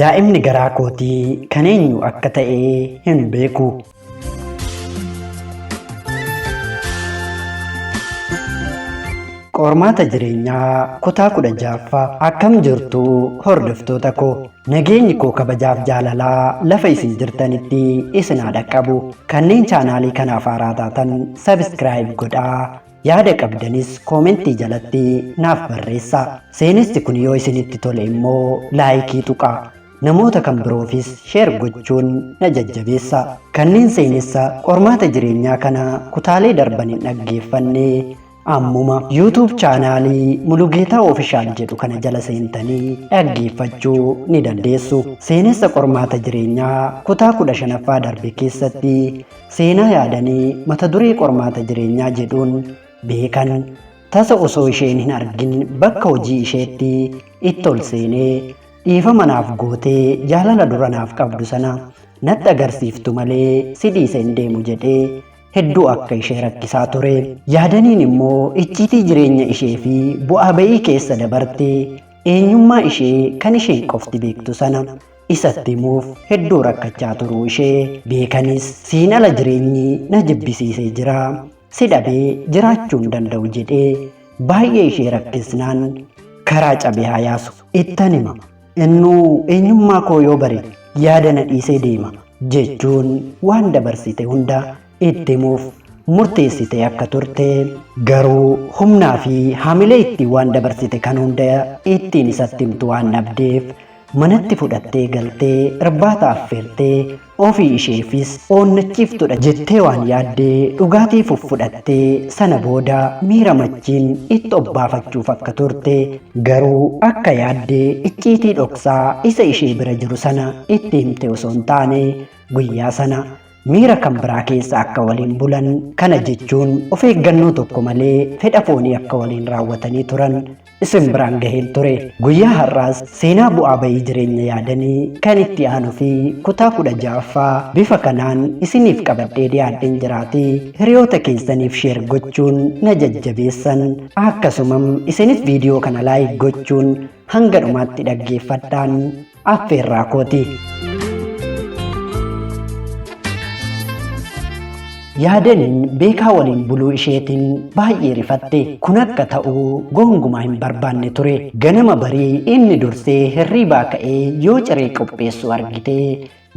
Daa'imni garaa kootii kan eenyu akka ta'e hin beeku. Qormaata jireenyaa kutaa kudha ja'affaa akkam jirtu hordoftoota koo nageenyi koo kabajaaf jaalalaa lafa isin jirtanitti isin haa dhaqqabu kanneen chaanaalii kanaaf haaraa taatan sabiskiraayib godhaa Yaada qabdanis koomentii jalatti naaf barreessaa. Seenessi kun yoo isinitti tole immoo laayikii tuqaa. Namoota kan biroofis sheer gochuun na jajjabeessa. Kanneen seenessa qormaata jireenyaa kana kutaalee darban hin dhaggeeffanne ammuma YouTube chaanaalii Mulugeetaa Ofishaal jedhu kana jala seentanii dhaggeeffachuu ni dandeessu. Seenessa qormaata jireenyaa kutaa kudha shanaffaa darbe keessatti Seenaa yaadanii mata duree qormaata jireenyaa jedhuun beekan tasa osoo isheen hin argin bakka hojii isheetti itti ol seenee dhiifama naaf gootee jaalala dura naaf qabdu sana natti agarsiiftu malee si dhiise hin deemu jedhee hedduu akka ishee rakkisaa ture. Yaadaniin immoo icciitii jireenya ishee fi bu'aa ba'ii keessa dabarte eenyummaa ishee kan isheen qofti beektu sana isatti himuuf hedduu rakkachaa turuu ishee beekanis siin ala jireenyi na jibbisiisee jira si dhabee jiraachuu hin danda'u jedhee baay'ee ishee rakkisnaan karaa cabee haa yaasu ittan hima innuu eenyummaa koo yoo bare yaada na dhiisee deema jechuun waan dabarsite hunda itti himuuf murteessitee akka turte garuu humnaa fi hamilee ittiin waan dabarsite kan hunda ittiin isatti himtu waan dhabdeef manatti fudhattee galtee irbaata affeertee ofii isheefis oonnachiiftudha jettee waan yaaddee dhugaatii fuffudhattee sana booda miira machiin itti obbaafachuuf akka turte garuu akka yaaddee icciitii dhoksaa isa ishee bira jiru sana itti himte osoo hin taane guyyaa sana Miira kan biraa keessa akka waliin bulan kana jechuun of eeggannoo tokko malee fedha foonii akka waliin raawwatanii turan isin biraan gaheen ture. Guyyaa har'aas seenaa bu'aa bahii jireenya yaadanii kan itti aanu fi kutaa kudha ja'affaa bifa kanaan isiniif qabadhee dhiyaadheen jiraatii hiriyoota keessaniif sheer gochuun na jajjabeessan akkasumam isinis viidiyoo kana laayik gochuun hanga dhumaatti dhaggeeffadhaan affeerraa kooti. Yaadaniin beekaa waliin buluu isheetiin baay'ee rifatte. Kun akka ta'u gonkumaa hin barbaanne ture. Ganama barii inni dursee hirriibaa ka'ee yoo ciree qopheessu argite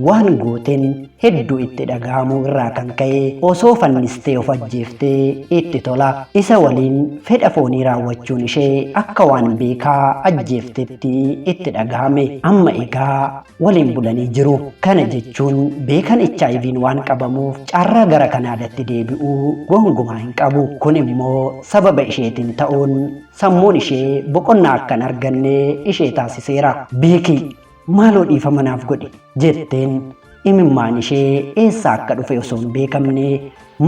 Waan gooteen hedduu itti dhaga'amuu irraa kan ka'e osoo fannistee of ajjeeftee itti tola. Isa waliin fedha foonii raawwachuun ishee akka waan beekaa ajjeeftetti itti dhaga'ame. Amma egaa waliin bulanii jiru. Kana jechuun beekan HIV'n waan qabamuuf carraa gara Kanaadatti deebi'uu gongumaa hin qabu. Kun immoo sababa isheetiin ta'uun sammuun ishee boqonnaa akka hin arganne ishee taasiseera. Beeki Maaloo dhiifama naaf godhi jetteen imimmaan ishee eessaa akka dhufe osoo hin beekamne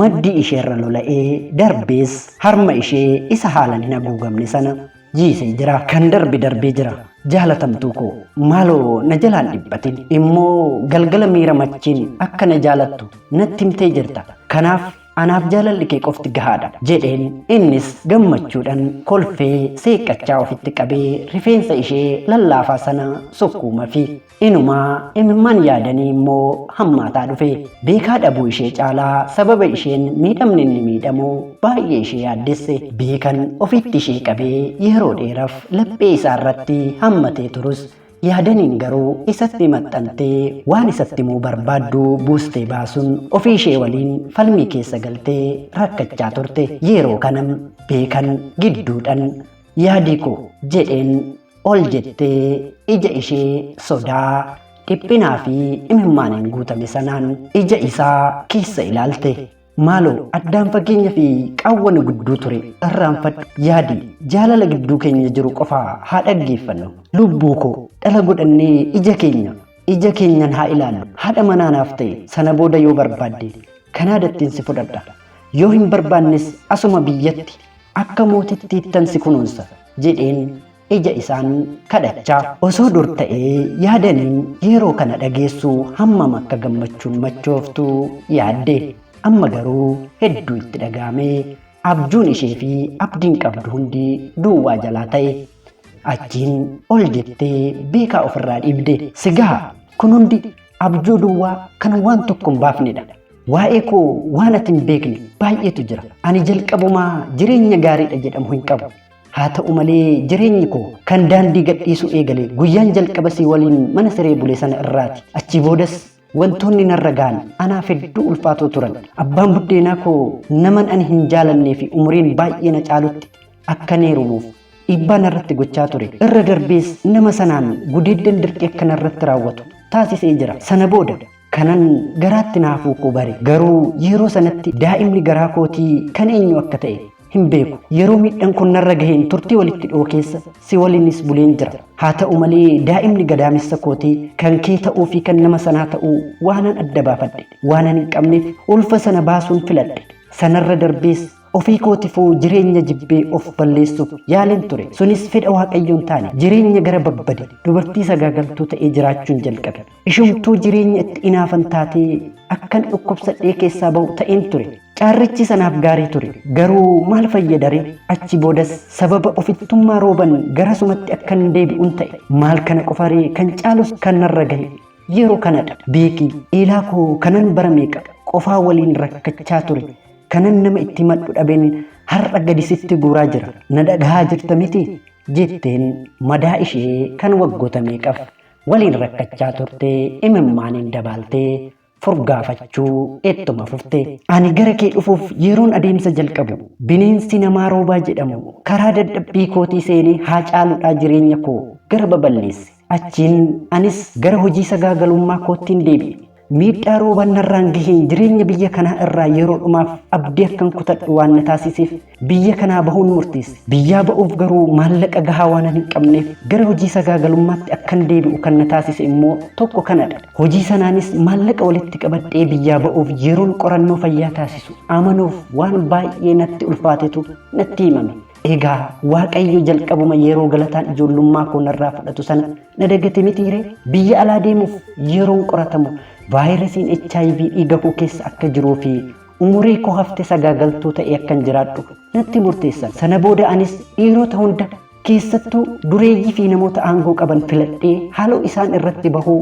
maddii isheerra lola'ee darbees harma ishee isa haalan hin haguugamne sana jiisee jira. Kan darbe darbee jira. Jaalatamtuu koo maaloo na jalaan dhiphatin immoo galgala miira machiin akka na jaalattu natti himtee jirta. Kanaaf Anaaf jaalalli kee qofti gahaadha jedheen innis gammachuudhaan kolfee seeqqachaa ofitti qabee rifeensa ishee lallaafaa sana sukkuuma fi inumaa imimmaan yaadanii immoo hammaataa dhufe beekaa dhabuu ishee caalaa sababa isheen miidhamni inni miidhamu baay'ee ishee yaaddesse beekan ofitti ishee qabee yeroo dheeraf laphee isaa irratti hammatee turus Yaadaniin garuu isatti maxxantee waan isatti himuu barbaaddu buustee baasuun ofii ishee waliin falmii keessa galtee rakkachaa turte. Yeroo kana beekan gidduudhan yaadii koo jedheen ol jettee ija ishee sodaa, dhiphinaa fi imimmaaniin guutame sanaan ija isaa keessa ilaalte. Maaloo addaan fageenya fi qaawwa nu gidduu ture irraanfadhu yaadi jaalala gidduu keenya jiru qofa haa dhaggeeffannu. Lubbuu koo dhala godhannee ija keenya ija keenyan haa ilaallu haadha manaa naaf ta'e sana booda yoo barbaadde Kanaadattiin si fudhadha. Yoo hin barbaannes asuma biyyatti akka mootittiittan si kunuunsa jedheen ija isaan kadhachaa. Osoo dur ta'ee yaadaniin yeeroo kana dhageessu hammam akka gammachuun machooftu yaadde. Amma garuu hedduu itti dhaga'ame. Abjuun ishee fi abdiin qabdu hundi duwwaa jalaa ta'e. Achiin ol jettee beekaa ofirraa dhiibde. Sigaha kun hundi abjuu duwwaa kan waan tokko hin baafnedha. Waa'ee koo waan ati hin beekne baay'eetu jira. Ani jalqabumaa jireenya gaariidha jedhamu hin qabu. Haa ta'u malee jireenyi koo kan daandii gadhiisuu eegale guyyaan jalqaba si waliin mana siree bule sana irraati. Achii boodas wantoonni narra ga'an anaaf hedduu ulfaatoo turan. Abbaan buddeenaa koo naman ani hin jaalannee fi umuriin baay'ee na caalutti akka neerumuuf dhiibbaa narratti gochaa ture. Irra darbees nama sanaan gudeeddan dirqii akka narratti raawwatu taasisee jira. Sana booda Kanan garaatti na hafuu koo bare. Garuu yeroo sanatti daa'imni garaa kootii kan eenyuu akka ta'e hin beeku. Yeroo miidhan kun narra gaheen turtii walitti dhihoo keessa si waliinis buleen jira. Haa ta'u malee daa'imni gadaamessa kootii kan kee ta'uu fi kan nama sanaa ta'uu waanan adda baafadhe waanan hin qabneef ulfa sana baasuun filadhe. Sanarra darbees ofii kootifuu jireenya jibbee of balleessuuf yaaleen ture. Sunis fedha Waaqayyoo hin taane. Jireenya gara babbade, dubartii sagaagaltuu ta'ee jiraachuun jalqabe. Ishumtuu jireenya itti inaafan taatee akkan dhukkubsadhee keessaa bahu ta'een ture. Carrichis anaaf gaarii ture. Garuu maal fayyadaree? Achi boodas sababa ofittummaa Rooban garasumatti akkan deebi'un ta'e. Maal kana qofaree kan caalus kan narra gahe yeroo kanadha. Beeki, Eelaa koo kanan bara meeqa qofaa waliin rakkachaa ture, kanan nama itti himadhu dhabeen har'a gadi sitti guuraa jira. Na dhagahaa jirta miti? jetteen madaa ishee kan waggoota meeqaf Waliin rakkachaa turte imimmaaniin dabaaltee furgaafachuu ittuma fufte. Ani gara kee dhufuuf yeroon adeemsa jalqabu bineensi namaa Roobaa jedhamu karaa dadhabbii kootii seenee Haacaaluudhaa jireenya koo gara baballeesse. Achiin anis gara hojii sagaagalummaa koottin deebi'e. Miidhaa roobaan narraan gaheen jireenya biyya kanaa irraa yeroo dhumaaf abdii akkan kutadhu waan na taasiseef biyya kanaa bahuun murteesse. Biyyaa ba'uuf garuu maallaqa gahaa waanan hin qabneef gara hojii sagaagalummaatti akkan deebi'u kan na taasise immoo tokko kanadha. Hojii sanaanis maallaqa walitti qabadhee biyyaa ba'uuf yeroon qorannoo fayyaa taasisu amanuuf waan baay'ee natti ulfaatetu natti himame. Egaa Waaqayyo jalqabuma yeroo galataan ijoollummaa koo narraa fudhatu sana na dagate mitiiree biyya alaa deemuuf yeroon qoratamu vaayirasiin HIV dhiiga koo keessa akka jiruu fi umurii koo hafte sagaagaltuu ta'ee akkan jiraadhu natti murteessan. Sana booda anis dhiirota hunda keessattuu dureeyyii fi namoota aangoo qaban filadhee haaloo isaan irratti bahuu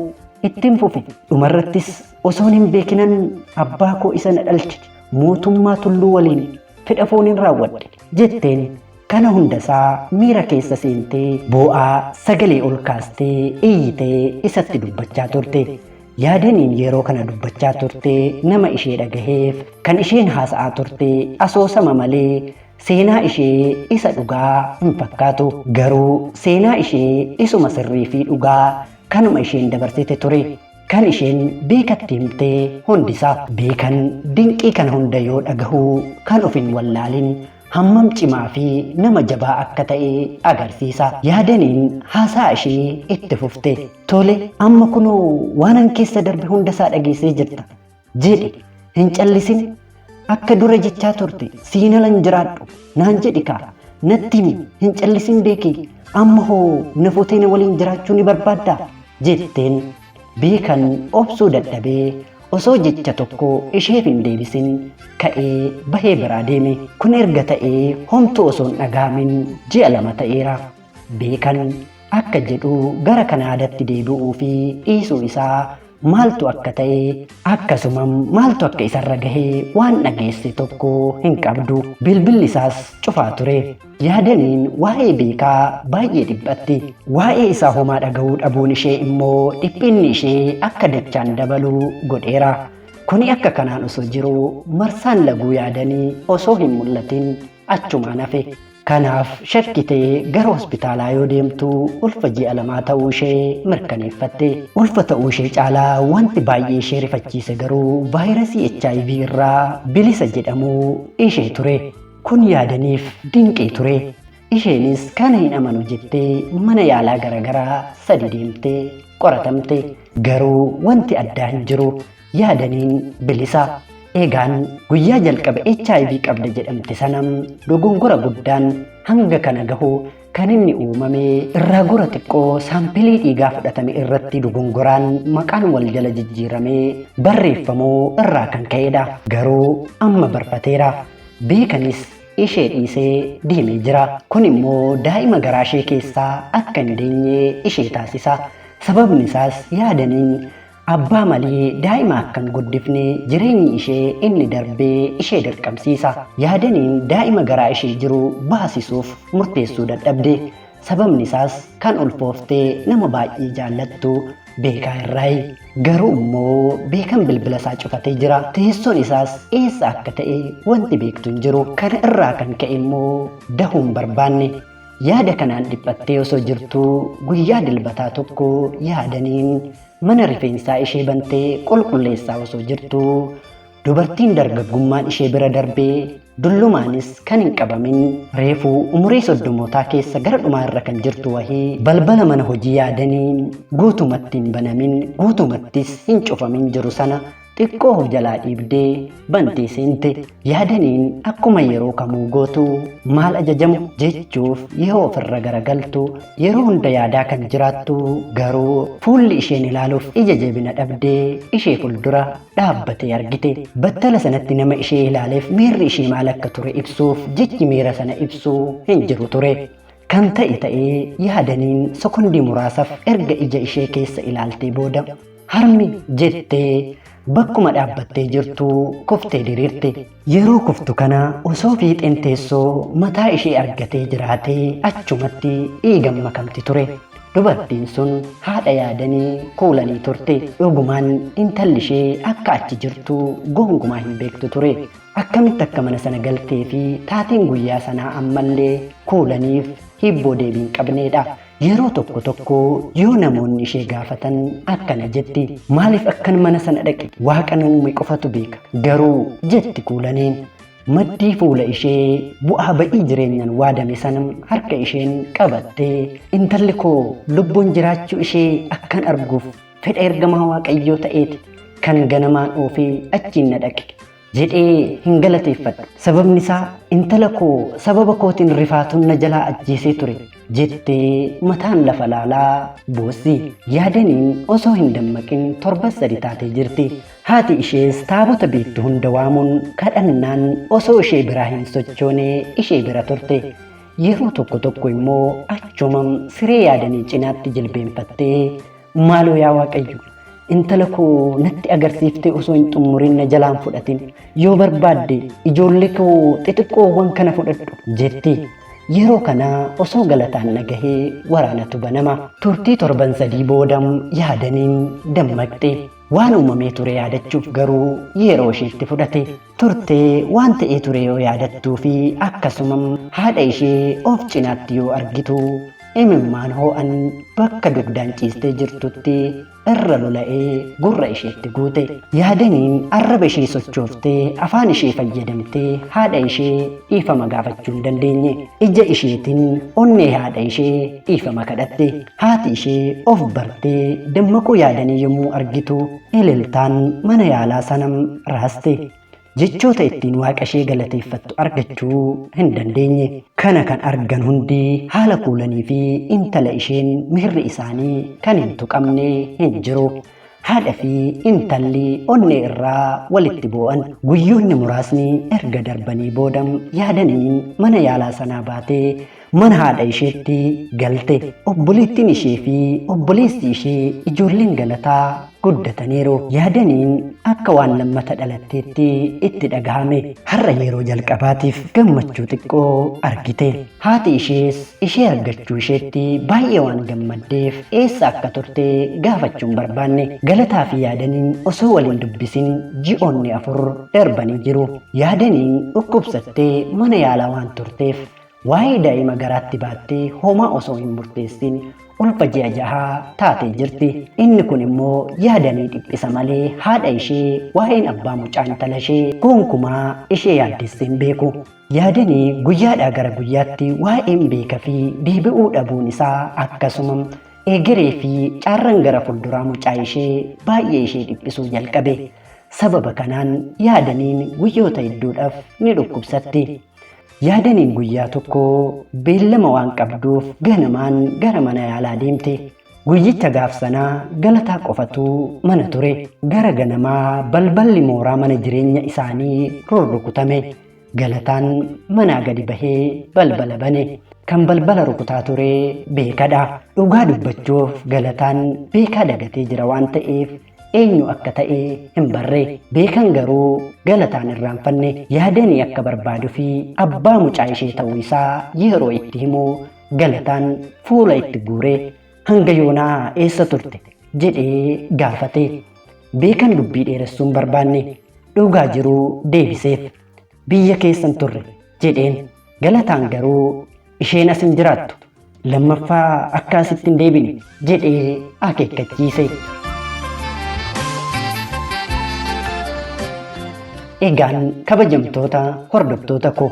ittiin fufe. Dhumarrattis osoon hin beekinan abbaa koo isa na dhalche mootummaa tulluu waliin fedha fooniin raawwadhe jetteen kana hundasaa miira keessa seentee boo'aa sagalee ol kaastee iyyitee isatti dubbachaa turte yaadaniin yeroo kana dubbachaa turte nama ishee dhagaheef kan isheen haasa'aa turte asoosama malee seenaa ishee isa dhugaa hin fakkaatu garuu seenaa ishee isuma sirrii fi dhugaa kanuma isheen dabarsite ture Kan isheen Beekatti himte hundisaa. Beekan dinqii kana hunda yoo dhagahu kan of hin wallaalin hammam cimaa fi nama jabaa akka ta'e agarsiisa. Yaadaniin haasa'a ishee itti fufte. Tole, amma kunoo waanan keessa darbe hundasaa dhageessee jirta. jedhi hin callisin akka dura jechaa turte siin alan jiraadhu naan jedhi kaa natti himi hin callisin beekii amma hoo na futee na waliin jiraachuu ni barbaaddaa jetteen beekan obsuu dadhabee osoo jecha tokko isheef hin deebisin ka'ee bahee biraa deeme kun erga ta'ee homtuu osoo hin dhaga'amin ji'a lama ta'eera. beekan akka jedhu gara Kanaadatti deebi'uu fi dhiisuu isaa maaltu akka ta'e akkasumam maaltu akka isarra gahe waan dhageesse tokko hin qabdu. Bilbilli isaas cufaa ture. Yaadaniin waa'ee beekaa baay'ee dhiphatti. Waa'ee isaa homaa dhaga'uu dhabuun ishee immoo dhiphinni ishee akka dachaan dabalu godheera. Kuni akka kanaan osoo jiru marsaan laguu yaadanii osoo hin mul'atin achumaan hafe. Kanaaf shakkitee gara hospitaalaa yoo deemtu ulfa ji'a lamaa ta'uu ishee mirkaneeffatte. Ulfa ta'uu ishee caalaa wanti baay'ee ishee rifachiise garuu vaayirasii HIV irraa bilisa jedhamuu ishee ture. Kun yaadaniif dinqii ture. Isheenis kana hin amanu jettee mana yaalaa garagaraa sadi deemtee qoratamte. Garuu wanti addaa hin jiru. Yaadaniin bilisa. Eegaan guyyaa jalqaba HIV qabda jedhamte sana dogongora guddaan hanga kana gahu kan inni uumame irraa gora xiqqoo saampilii dhiigaa fudhatame irratti dogongoraan maqaan wal jala jijjiiramee barreeffamuu irraa kan ka'edha. Garuu amma barfateera. Beekanis ishee dhiisee deemee jira. Kun immoo daa'ima garaa ishee keessaa akka hin deenye ishee taasisa. Sababni isaas yaadaniin Abbaa malee daa'ima akka hin guddifne jireenyi ishee inni darbe ishee dirqamsiisa. Yaadaniin daa'ima garaa ishee jiru baasisuuf murteessuu dadhabde. Sababni isaas kan ulfoofte nama baay'ee jaallattu Beekaa irraayi. Garuu immoo Beekan bilbila isaa cufatee jira. Teessoon isaas eessa akka ta'e wanti beektu hin jiru. Kana irraa kan ka'e immoo dahuu hin barbaanne. Yaada kanaan dhiphattee osoo jirtuu guyyaa dilbataa tokko yaadaniin mana rifeensaa ishee bantee qulqulleessaa osoo jirtuu dubartiin dargaggummaan ishee bira darbee dullumaanis kan hin qabamin reefuu umurii soddomootaa keessa gara dhumaa irra kan jirtu wahii balbala mana hojii yaadaniin guutumatti hin banamin guutumattis hin cufamin jiru sana xiqqoo of jalaa dhiibdee bantee seente yaadaniin akkuma yeroo kamuu gootu maal ajajamu jechuuf yoo ofirra garagaltu yeroo hunda yaadaa kan jiraattu garuu fuulli isheen ilaaluuf ija jabina dhabdee ishee fuuldura dhaabbatee argite battala sanatti nama ishee ilaaleef miirri ishee maal akka ture ibsuuf jechi miira sana ibsu hin jiru ture. Kan ta'e ta'ee yaadaniin sekondii muraasaaf erga ija ishee keessa ilaaltee booda Harmi jettee bakkuma dhaabbattee jirtu kuftee diriirte. Yeroo kuftu kana osoo fiixeen teessoo mataa ishee argatee jiraatee achumatti dhiigan makamti ture. Dubartiin sun haadha yaadanii kuulanii turte. Dhugumaan intalli ishee akka achi jirtu gongumaa hin beektu ture. Akkamitti akka mana sana galtee fi taateen guyyaa sanaa ammallee kuulaniif hibboo deebii hin qabneedha. Yeroo tokko tokko yoo namoonni ishee gaafatan akkana jetti, Maaliif akkan mana sana dhaqe? Waaqa na uume qofatu beeka. Garuu, jetti Kuulaneen, maddii fuula ishee bu'aa ba'ii jireenyaan waadame sana harka isheen qabattee, Intalli koo lubbuun jiraachuu ishee akkan arguuf fedha ergamaa Waaqayyoo ta'eeti kan ganamaan oofee achiin na dhaqe. jedhee hin galateeffadhu. Sababni isaa intala koo sababa kootiin rifaatuun na jalaa ajjeesee ture jettee mataan lafa laalaa boossi. Yaadaniin osoo hin dammaqin torban sadi taatee jirti. Haati ishees taabota beektu hunda waamuun kadhannaan osoo ishee biraa hin sochoone ishee bira turte. Yeroo tokko tokko immoo achuma siree yaadanii cinaatti jilbeenfattee Maaloo yaa Waaqayyo, intala koo natti agarsiiftee osoo hin xummurin na jalaan fudhatin. Yoo barbaadde ijoollee koo xixiqqoowwan kana fudhadhu jetti. Yeroo kana osoo galataan nagahee waraanatu banama. Turtii torban sadii booda yaadaniin dammaqxe. Waan uumamee ture yaadachuuf garuu yeroo ishiitti fudhate. turte waan ta'ee ture yoo yaadattuu fi akkasuma haadha ishee of cinaatti yoo argitu imimmaan hoo'an bakka dugdaan ciistee jirtutti irra lola'ee gurra isheetti guute. Yaadaniin arraba ishee sochooftee afaan ishee fayyadamtee haadha ishee dhiifama gaafachuu hin dandeenye. Ija isheetiin onnee haadha ishee dhiifama kadhatte. Haati ishee of bartee dammaquu yaadanii yommuu argitu Eleltaan mana yaalaa sana raaste. Jechoota ittiin waaqa ishee galateeffattu argachuu hin dandeenye. Kana kan argan hundi haala kuulanii fi intala isheen miirri isaanii kan hin tuqamne hin jiru. Haadha fi intalli onnee irraa walitti boo'an. Guyyoonni muraasni erga darbanii booda yaadaniin mana yaalaa sanaa baatee mana haadha isheetti galte. Obboleettiin ishee fi obboleessi ishee ijoolleen galataa guddataniiru. Yaadaniin akka waan lammata dhalatteetti itti dhagahame. Har'a yeroo jalqabaatiif gammachuu xiqqoo argite. Haati ishees Ishee argachuu isheetti baay'ee waan gammaddeef eessa akka turte gaafachuu hin barbaanne. Galataa fi Yaadaniin osoo wal hin dubbisin ji'oonni afur darbanii jiru. Yaadaniin dhukkubsattee mana yaalaa waan turteef waa'ee daa'ima garaatti baattee homaa osoo hin murteessin ulfa ji'a jahaa taatee jirti. Inni kun immoo Yaadanii dhiphisa malee haadha ishee waa'een abbaa mucaa intala ishee gonkumaa ishee yaaddessee hin beeku. Yaadani guyyaadhaa gara guyyaatti waa'een beeka fi deebi'uu dhabuun isaa akkasuma eegeree fi caarran gara fulduraa mucaa ishee baay'ee ishee dhiphisuu jalqabe. Sababa kanaan yaadaniin guyyoota hedduudhaaf ni dhukkubsatti. Yaadaniin guyyaa tokko beellama waan qabduuf ganamaan gara mana yaalaa deemte. Guyyicha gaaf sanaa galataa qofatu mana ture. Gara ganamaa balballi mooraa mana jireenya isaanii rurrukutame. Galataan manaa gadi bahee balbala bane. Kan balbala rukutaa ture beekadha. Dhugaa dubbachuuf galataan beekaa dagatee jira waan ta'eef eenyu akka ta'e hin barre. Beekan garuu galataan irraanfanne yaadanii akka barbaadu fi abbaa mucaa ishee ta'uu isaa yeroo itti himu galataan fuula itti guure. Hanga yoonaa eessa turte? jedhee gaafate. Beekan dubbii dheeressuun barbaanne dhugaa jiruu deebiseef. Biyya keessan turre jedheen galataan garuu isheen as hin jiraattu. Lammaffaa akka asitti hin deebine jedhee akeekkachiise. Egaan kabajamtoota hordoftoota koo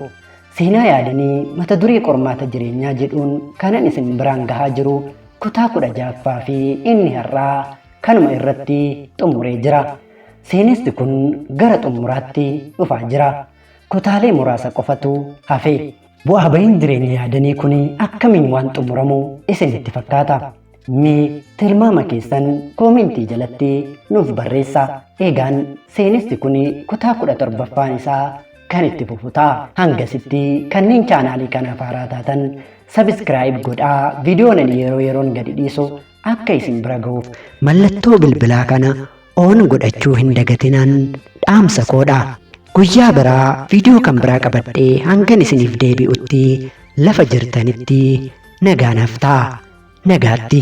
Seenaa yaadanii mata duree qormaata jireenyaa jedhuun kanan isin biraan gahaa jiru kutaa kudha ja'affaa fi inni har'aa kanuma irratti xumuree jira. Seenessi kun gara xumuraatti dhufaa jira. Kutaalee muraasa qofatu hafe. Bu'aa bahiin jireenya yaadanii kun akkamiin waan xumuramu isinitti fakkaata? Mee tilmaama keessan koomentii jalatti nuuf barreessa. Egaan seenessi kun kutaa kudha torbaffaan isaa kan itti fufu ta'a. Hangasitti kanneen chaanaalii kanaaf haaraa taatan sabiskiraayib godhaa viidiyoon ani yeroo yeroon gadi dhiisu akka isin bira ga'uuf mallattoo bilbilaa kana oon godhachuu hin dagatinaan dhaamsa koodha guyyaa biraa viidiyoo kan biraa qabadhee hangan isiniif deebi'utti lafa jirtanitti nagaanaaf ta'a nagaatti.